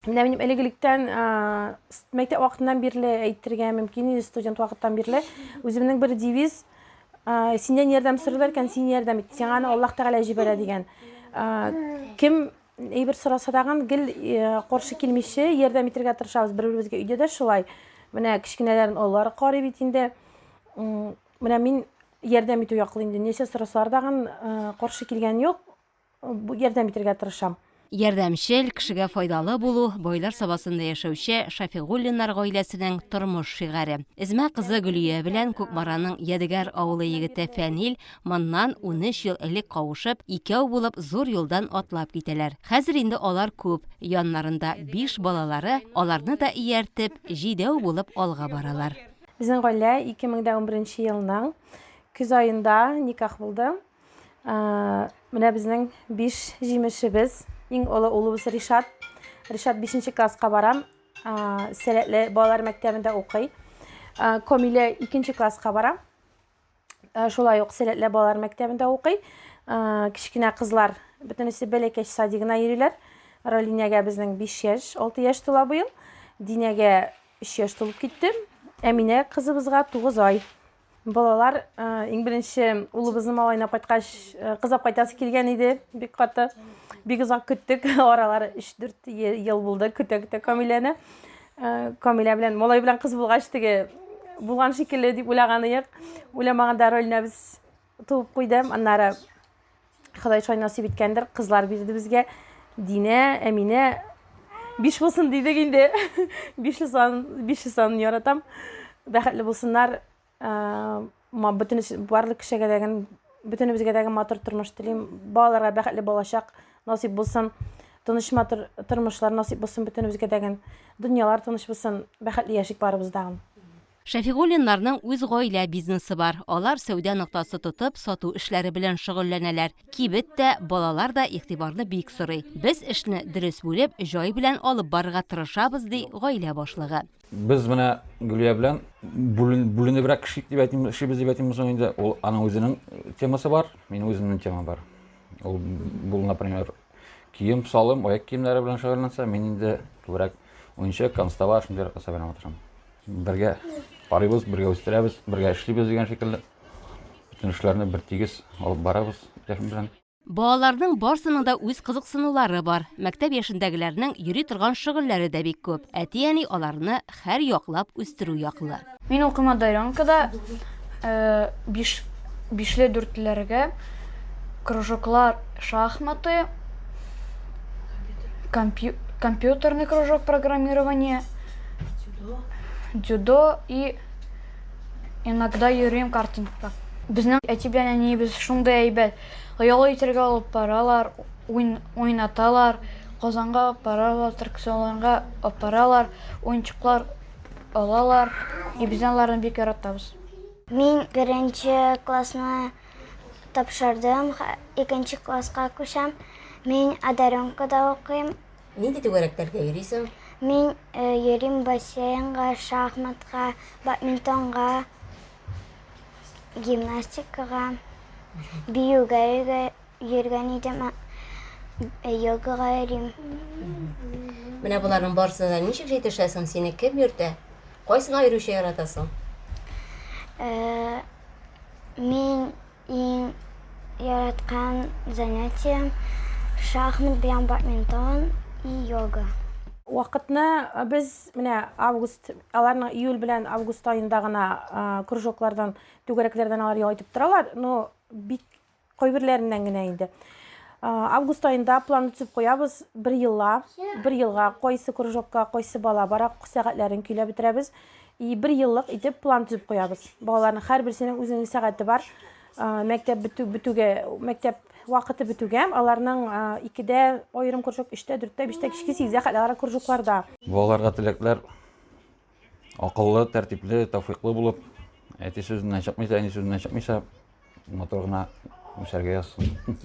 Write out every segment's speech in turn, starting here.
Менә минем элек-электән мәктәп вакытыннан бирле әйтергә мөмкин инде студент вакыттан бирле үземнең бер девиз синнән ярдәм сорыйлар икән, син ярдәм ит. Сиңа аны Аллаһ Тәгалә җибәрә дигән. Кем әйбер сораса тагын гел каршы килмичә ярдәм итәргә тырышабыз. Бер-беребезгә өйдә дә шулай. Менә кечкенәләрен олылары карый бит инде. Менә мин ярдәм итү яклы инде. Нәрсә сорасалар тагын каршы килгән юк. Ярдәм итәргә тырышам. Ярдәмчел, кешегә файдалы булу, байлар сабасында яшәүче Шафигуллиннар гаиләсенең тормыш шигаре. Эзмә кызы Гөлия белән Кукмараның Ядегәр авылы егете Фәнил моннан унөч ел элек кавышып, икәү булып зур юлдан атлап китәләр. Хәзер инде алар күп, яннарында биш балалары, аларны да ияртеп, җидәү булып алга баралар. Безнең гаилә ике мең дә унберенче елның көз аенда никах булды. Ә, менә безнең биш җимешебез. Иң олы улыбыз Ришат. Ришат 5 класска бара. Ә, Сәләтле балалар мәктәбендә укый. Ә, Комилә 2 класска бара. Ә, Шулай ук Сәләтле балалар мәктәбендә укый. Ә, Кечкенә кызлар бөтенесе бәләкәч садигына йөриләр. Ралинягә безнең 5 яшь, 6 яшь тула быел. Динәгә 3 яшь тулып китте. Әминә кызыбызга 9 ай. Балалар, иң беренче улыбызны малайына кайткач, кызап кайтасы килгән иде, бик каты. Бик озак көттек, аралары 3-4 ел булды, көтә-көтә Камиләне. Камилә белән, малай белән кыз булгач теге булган шикелле дип уйлаган идек. Уйламаганда Рольнәбез туып куйды. Аннары Ходай шулай насип иткәндер, кызлар бирде безгә. Динә, Әминә биш булсын дидек инде. Бишле сан, бишле сан яратам. Бәхетле булсыннар. Ма бөтен барлык кешегә дә гән бөтенебезгә дә матур тормыш телим. Балаларга бәхетле балачак насип булсын. Тыныч матур тормышлар насип булсын бөтенебезгә дә гән. Дөньялар тыныч булсын. Бәхетле яшик барыбызда. Шәфигуллиннарның үз гаилә бизнесы бар. Алар сәүдә ноктасы тотып, сату эшләре белән шөгыльләнәләр. Кибет тә, балалар да игътибарны бик сорый. Без эшне дөрес бүлеп, җай белән алып барырга тырышабыз, ди гаилә башлыгы. Без менә Гөлия белән бүленебрәк эшлик дип әйтим, эшлибез дип әйтимме соң инде. Ул аның үзенең темасы бар, минем үземнең тема бар. Ул, бу, например, Кием салым, аяк киемнәре белән шөгыльләнсә, мин инде күбрәк уенчык, констава, шундый рәхәт сабыйлар матырам. Бергә карыйбыз, бергә үстерәбез, бергә эшлибез дигән шикелле. Бөтен эшләрне бер тигез алып барабыз Рәхим белән. Балаларның барсының да үз кызыксынулары бар. Мәктәп яшендәгеләрнең йөри торган шөгыльләре дә бик күп. Әти-әни аларны хәр яклап үстерү яклы. Мин укыма Дайранкада биш бишле дүртлеләргә кружоклар шахматы, компьютерный кружок программирование, дзюдо и иногда йөрим картингка. Безнең әти белән әниебез шундый әйбәт, ояла итәргә алып баралар. Уен уйнаталар, Казанга апаралар, аттракционнарга апаралар, уенчыклар алалар. И без аларны бик яратабыз. Мин беренче классны тапшырдым, икенче класска күчәм. Мин Одаренкада укыйм. Нинди түгәрәкләргә йөрисең? Мин йөрим бассейнга, шахматка, бадминтонга, гимнастикага, биюгә өйгә. йөргән идем, йогага йөрим. Менә боларның барысына да ничек җитешәсең? Сине кем йөртә? Кайсына йөрүче яратасың? Мин иң яраткан занятием шахмат белән бадминтон и йога. Вакытны без менә август, аларның июль белән август аенда гына кружоклардан, түгәрәкләрдән алар ял итеп торалар, но бик Кайберләреннән генә инде. Август аенда план үтсеп куябыз, бер елла, бер елга кайсы кружокка, кайсы бала бара, сәгатьләрен көйләп бетерәбез. И бер еллык итеп план төзеп куябыз. Балаларның һәрберсенең үзенең сәгате бар. Мәктәп бетү бетүгә, мәктәп вакыты бетүгә, аларның 2дә аерым кружок, 3тә, 4тә, 5тә, кичке 8дә кадәр кружокларда. Балаларга теләкләр Акыллы, тәртипле, тәүфиклы булып, әти сүзеннән чыкмыйча, әни сүзеннән чыкмыйча, матур гына үсәргә язсын.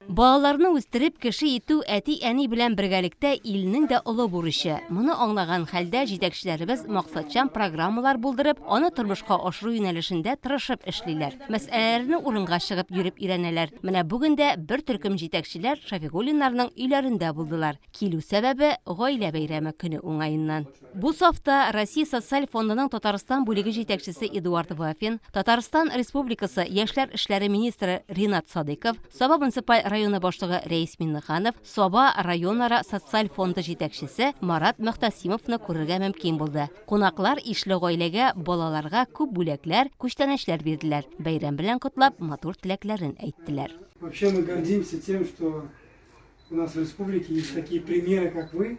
Балаларны үстереп, кеше итү әти-әни белән бергәлектә илнең дә олы бурычы. Моны аңлаган хәлдә җитәкчеләребез максатчан программалар булдырып, аны тормышка ашыру юнәлешендә тырышып эшлиләр. Мәсьәләләрне урынга чыгып йөреп өйрәнәләр. Менә бүген дә бер төркем җитәкчеләр Шафигуллиннарның өйләрендә булдылар. Килү сәбәбе, гаилә бәйрәме көне уңаеннан. Бу сафта Россия Социаль фондының Татарстан бүлеге җитәкчесе Эдуард Вафин, Татарстан Республикасы яшьләр эшләре министры Ринат Садыйков, Саба муниципаль районы башлыгы Рәис Миңнеханов, Саба районара социаль фонды җитәкчесе Марат Мөхтәсимовны күрергә мөмкин булды. Кунаклар ишле гаиләгә, балаларга күп бүләкләр, күчтәнәчләр бирделәр, бәйрәм белән котлап, матур теләкләрен әйттеләр. Вообще мы гордимся тем, что у нас в республике есть такие примеры, как вы.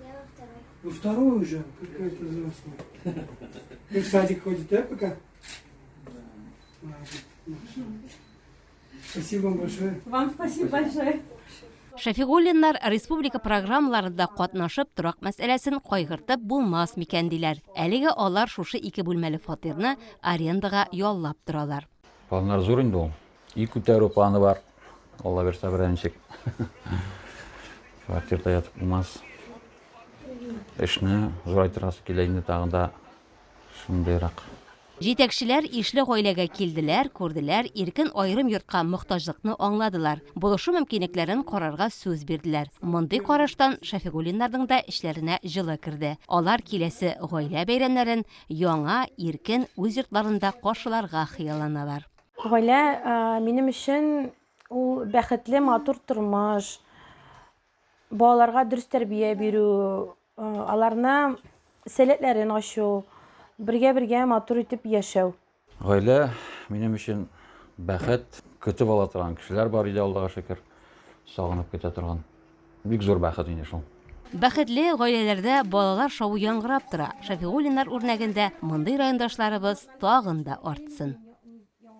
Я во второй. Во второй уже? Какая ты взрослая. Ты в садик ходит, да, пока? Да. Спасибо вам большое. Вам спасибо большое. Шәфигуллиннар республика программаларында катнашып торак мәсьәләсен кайгыртып булмас микән диләр. Әлеге алар шушы ике бүлмәле фатирны арендага яллап торалар. Планнар зур инде ул. И күтәрү планы бар. Алла бирсә берәнчек. Квартирда ятып булмас. Эшне зурайтырасы килә инде тагын да шундыйрак. Җитәкчеләр ишле гаиләгә килделәр, күрделәр, иркен аерым йортка мохтаҗлыкны аңладылар, булышу мөмкинлекләрен карарга сүз бирделәр. Мондый караштан Шәфигуллиннарның да эчләренә җылы керде. Алар киләсе гаилә бәйрәмнәрен яңа, иркен, үз йортларында каршыларга хыялланалар. Гаилә минем өчен ул бәхетле, матур тормыш, балаларга дөрес тәрбия бирү, аларны сәләтләрен ачу, бергә-бергә матур итеп яшәү. Гаилә минем өчен бәхет, көтеп ала торган кешеләр бар өйдә, Аллага шөкер, сагынып көтә торган. Бик зур бәхет инде шул. Бәхетле гаиләләрдә балалар шавы яңгырап тора, Шәфигуллиннар үрнәгендә мондый райондашларыбыз тагын да артсын.